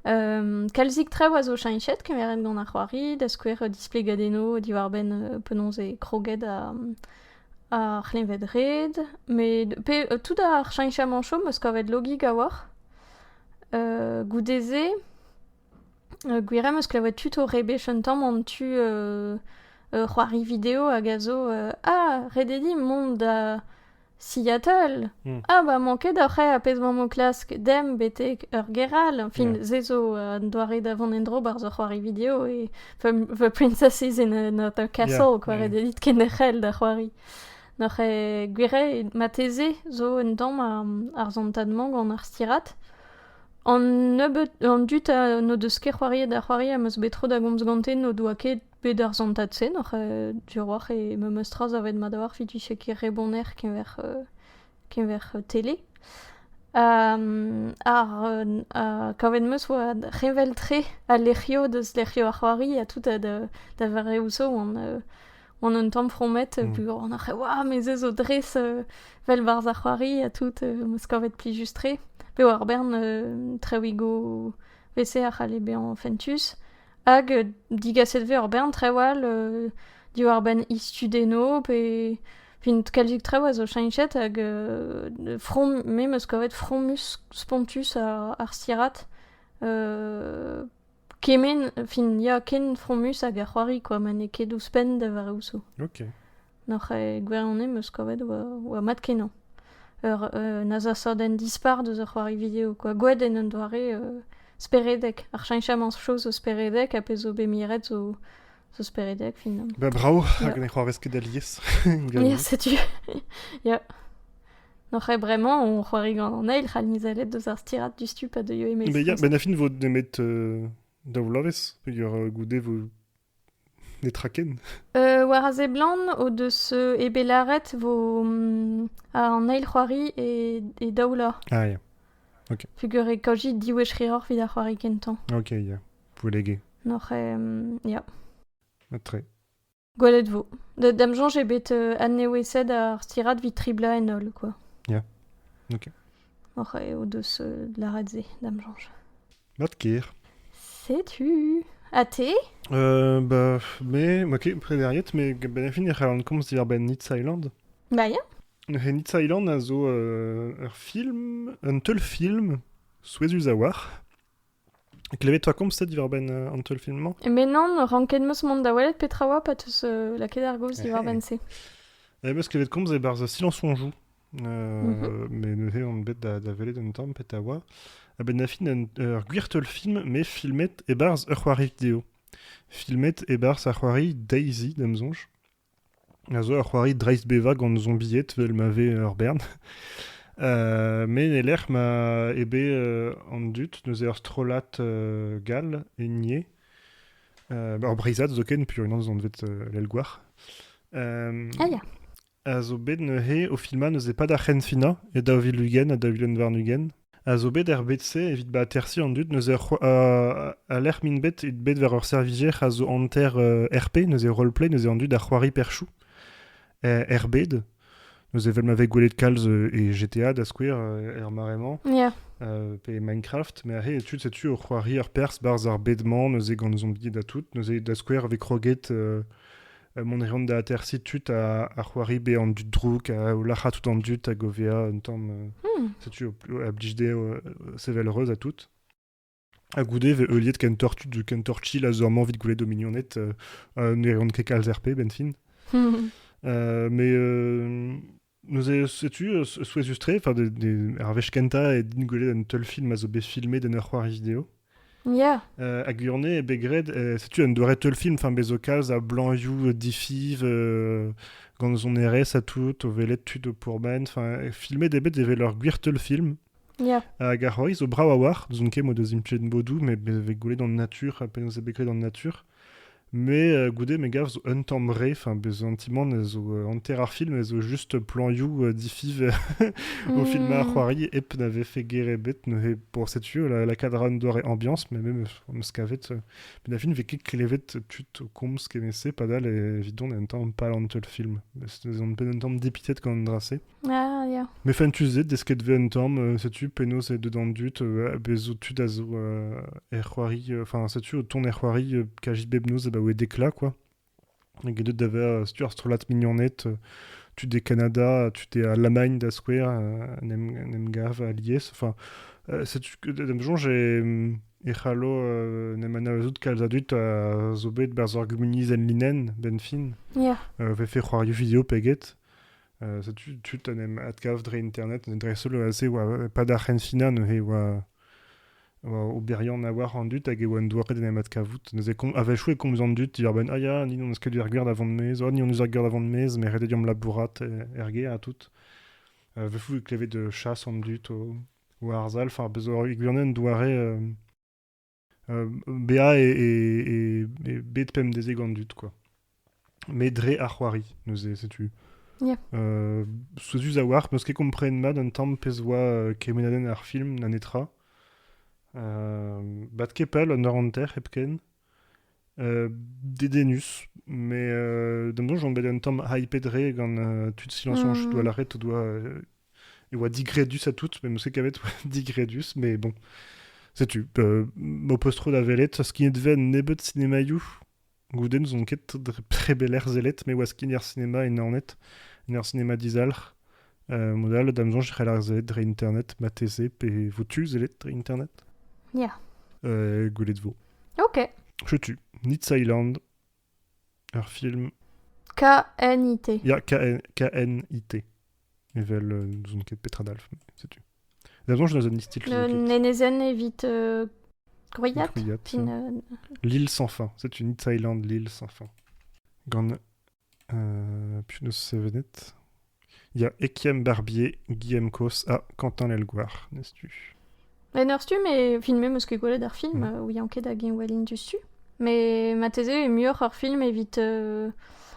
Um, kalzik trev a zo chainchet kemeret gant ar c'hoari, da skouer displegadenno diwar-ben euh, penaos e kroged a, ar c'hleñved-red met pe tout ar cheñchamant chom 'meus kavet logig a-walc'h. goude-se gwir eo 'meus klevet tud o rebech un tamm an tu c'hoari video hag a zo ah ret eo dit mont da Seattle. Ah ba mañ ket oc'h aet ar pezh 'mañ o klask demp betek ur gêr all. Fin se zo un doare da vont en-dro 'barzh ur c'hoari video e The princess is in another castle, quoi. Yeah. Dit ken ec'hel da c'hoari. Noc'h e gwire, mateze zo un damm ar zantad-mañ gant ar stirat. An nebeut, an dut n'o deus ket c'hoariet da c'hoari am eus bet tro da gomz gante n'o doa ket bet ar zantad-se, noc'h e Duroir e memes tra zavet mat ar fitiche ket reboner keñver keñver tele. Ar kavet 'm eus oa revel-tre al lec'hioù deus lec'hioù ar c'hoari ha tout da vareoù zo oan un tamm fromet peogwir oan oc'h oa me se zo dres vel 'barzh ar c'hoari ha tout 'm eus kavet plijus-tre. Bev ar bern traoùigoù, 'vese a c'halle bezañ fentus. Hag digaset 'vez ur bern traoù all diwar-benn istudenno pe vint kalzik traoù a zo cheñchet hag from me 'm eus kavet fromus spontus ar stirad kement fin ya ken fromus hag ar c'hoari kwa ma n'eo ket ouzhpenn da vare ouzo. N'oc'h ket gwirion em eus kavet oa mat-kenañ. Ur un azasadenn dispar deus ur c'hoari video kwa. Gwet en un doare speredek. Ar cheñchamant chañs zo speredek ha pezh zo bet miret zo zo speredek finalement. Ba brav, rak ne c'hoarvez ket alies. Ya, setu. Ya. N'oc'h ket bremañ on c'hoari gant an eil c'hall mizelet deus ar stirad du stup a deuio e-maez. Mais ya, ben a fin vo nemet daou vloavezh peogwir goude vo Netra ken. Euh, war a seblant o deus eo bet lâret vo an eil c'hoari e, e daou lor. Ah ya. Ok. Pugur e kaoji div wech c'hiroc'h evit ar c'hoari kentañ. Ok, ya. Voulege. Noc'h, euh, ya. Très. Gwelet vo. D'am soñj eo bet euh, adnewezet ar stirad evit triblañ en holl, quoi. Ya. Ok. Oc'h eo deus euh, lâret se, d'am soñj. Mat ker. Setu. Ha te? Euh, bah, me, moi qui préderiet, mais ben fin e c'hallan komz diwar-benn Nitz Island. Bah ya. He Nitz Island a zo euh, ur film, un teulfilm souezhus a oar. Klevet-toi komzet diwar-benn euh, an teulfilm-mañ Mais non, ranket meus mont da welet petra oa, pa teus euh, lakaet ar gaoz diwar-benn se. Eh, beus klevet komz e-barzh Silence on joue. Mhm. mais neuze on bet da, da welet un tamm petra oa. A-benn da fin, un- ur gwir teulfilm, mais filmet e-barzh ur c'hoari video. Filmet e-barzh ar c'hoari Daisy, d'am sonj. A zo ur c'hoari dreist-bevañ gant zombied, vel ma ve ur bern. Euh, mais e lec'h ma eo bet euh, an dud neuze ur strollad euh, gall e nie. Euh, ur breizhad zoken, pur unan eus anvet euh, l'Elgouar. Euh, Ah, ya. a zo bet neuze o filmañ neuze pad ar c'henfinañ e daou vil ugent ha daou vil warn-ugent a zo bet er bed-se evit ba atersiñ an dud neuze a lec'h m'int bet evit bet war ur servijer a zo hanter RP neuze roleplay neuze an dud a c'hoari perchoù er bed neuze evel ma vez gwelet kalz e GTA da skouer er mare-mañ pe Minecraft met aze tud setu o c'hoari ur perzh barzh ar bed-mañ neuze gant zombie da tout neuze da skouer e vez kroget mont a reont da atersiñ tud a, c'hoari bezañ an dud drouk, a lac'ha tout an dud hag o vezañ un tamm... Hmm. Setu, a blij dezho sevel reuz à tout. Ha goude vez heuliet ken tortu, ken torchil a zo amañ evit gwelet o mignoned ne reont ket kalz RP, benfin. mais Neuze, setu souezhus-tre, enfin, ar wech kentañ eo din gwelet un teulfilm a zo bet filmet en ur c'hoari video. Yeah. Euh, hag Urnay eo bet graet, setu un doare teulfilm, enfin, bezo kalz a blanioù difiv, euh, gant son erez ha tout, o welet tud o pourban, enfin, filmet eo bet evel ur gwir teulfilm. Hag ar c'hoari zo brav a-walc'h, n'ouzon ket mod eus implij bodoù, met bez e vez gwelet an natur, penaos eo bet graet an natur. Mais euh, goude, me gav, zo un tamm re, enfin, bez un ti-man a zo euh, hanter ar film, a zo juste planioù euh, difiv au film à c'hoari, hep na vefe ger ebet, neuze, bon, setu, la, la cadran doar et ambiance, mais même on se kavet, euh, mais la film vez ket klevet put o komz kement-se, padal, evit on un tamm pas l'antel film. On peut un tamm dépitet quand on drasé. Me fentus eo desket 'vez un tamm, setu penaos eo deuet an dud, bez' zo tud a zo er c'hoari, enfin setu o tont er c'hoari kaji bep noz abaoe dekla quoi. Get deuet da vezañ setu ar strollad mignoned, tud e Kanada, tud e Alamagn da skouer, en em gav alies, enfin setu d'am soñj e c'hallo en em anavezout kalz a dud a zo bet 'barzh ar gumuniezh enlinenn 'benn fin, 'vefe c'hoarioù video pe get. setu tud en em adkav dre internet dreist-holl se oa pad ar c'henfina neuze oa oberiant a oar an dud hag e oa un doare d'en em adkavout neuze a-wechoù e komz an dud dibar benn ah ya ni n'on eus ket ur gwer da vont maez oh ni hon eus ur gwer da vont maez met ret eo deomp labourat er gêr ha tout wechoù e klevet chasse an dud o arzal enfin bezo ur gwirionez un doare bezañ eo bet pemdezek an dud kwa. Met dre ar c'hoari neuze setu. Yeah. Euh, souezhus a-walc'h, meus ket kompren mat un tamm pezh oa euh, kemenadenn ar film na netra. Euh, bat ket pell, un eur hanter hepken. dedennus. Mais euh, d'un bout, on bet un tamm hyped re gant euh, tud silence on chut doa lâret o doa euh, e oa digredus à tout, mais mse kavet oa digredus, mais bon. Setu, euh, m'ho peus tro da welet, skignet ven nebeut cinémaioù, goude n'ouzon ket dre prebeler zellet, mais oa skigner ar cinéma e Naoned, en ur cinéma dizalc'h, Mod all, da'm soñj e c'hell ar sellet dre internet marteze, pe vo tu sellet dre internet Ya. euh, Gwelet vo. Ok. Setu, Nits Island, ur film K-N-I-T. Ya, KN, KNIT. Evel, euh, n'ouzon ket petra dalf, mais setu. Da'm soñj dans un style Le film. Nenezen evit euh, Grouillat Grouillat, Tin, euh, L'île sans fin. C'est une Nits Island, l'île sans fin. Gant penaos sevenet Il y a Étienne Barbier, Guillaume Cos, ah, Quentin Lelgoar, n'est-ce tu En ur stumm e filmé eus ket gwelet ar film, mm. euh, ouian ket hag eñ welin diouzhtu. Mais mateze e muioc'h ar film evit euh,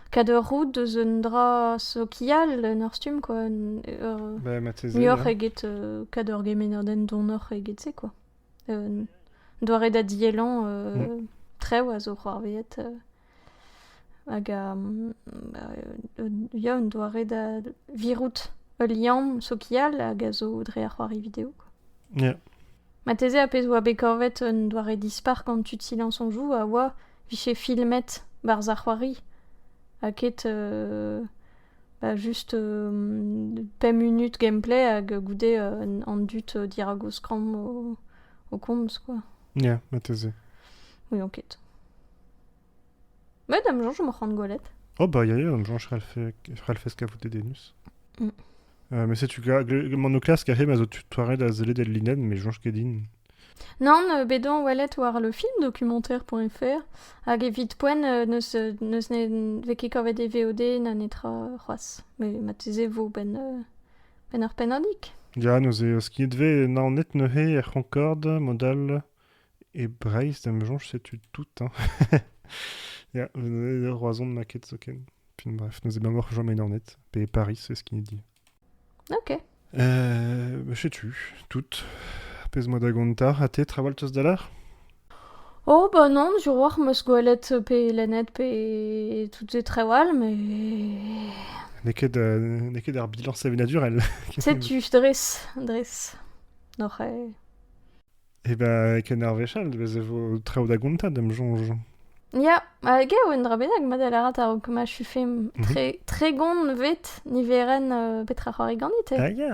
kad ur roud deus un dra sokial en ur stumm quoi. Ur, bah, muioc'h eget euh, kad ur gemenerden donoc'h eget se quoi. Un doare da diellan euh, mm. trev a zo c'hoarveet euh, Hag ya, un doare da virout ul liamm sokial hag a zo dre ar c'hoari video. Ya. Marteze ar pezh 'oa bet kavet un doare dispar gant tud Silence on joue a oa vije filmet barzh ar c'hoari ha ket bah just pemp munut gameplay hag goude an dud dirag o skramm o komz quoi. Ya, marteze. Ouion ket. Bah, dam Jean, je m'en rends golet. Oh bah, ya, ya, Jean, je ralfes kavout des dénus. Mm. Euh, mais c'est tu mon classe carré ma zo tutoiret a zele del linen mais Jean Kedin. Non, euh, bédon welet war le film documentaire.fr hag evit poen euh, neus neus ne veket kavet e VOD na netra c'hoaz. Mais mateze vo ben Penn ur pennadig? Ya, neuze skignet vez Naoned neuze er C'honkord mod all e Breizh da 'm soñj setu tout hein. Ya, Roazhon n'a ket zoken. Puis bref, neuze ma moc'h chom e Naoned pe e Paris c'est ce qu'il dit. Ok. Euh, bah, setu, tout. Ar pezh 'moa da gontañ. Ha te, trawal teus da lar? Oh bah non, jour war 'm eus gwelet pe lennet pe tout se traoù all met... N'eo ket n'eo ket ar bilañs sevenadurel. Setu dres, dres, n'oc'h eo. Eh ben, ken ar wechall, bez e vo traoù da gontañ da'm soñj. Ya, ha gav un dra bennak, ma da lârat a-raok ma chufemp. Tre tregont vet niverenn petra c'hoari ganit, eh? Ah ya!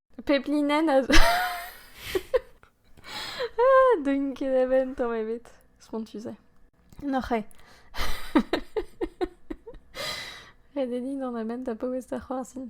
Pep linenn a zo... ah, deun ket eben tamm ebet. Spontus eo. Noc'h eo. Ret eo din an amen da paouez da c'hoarzhin.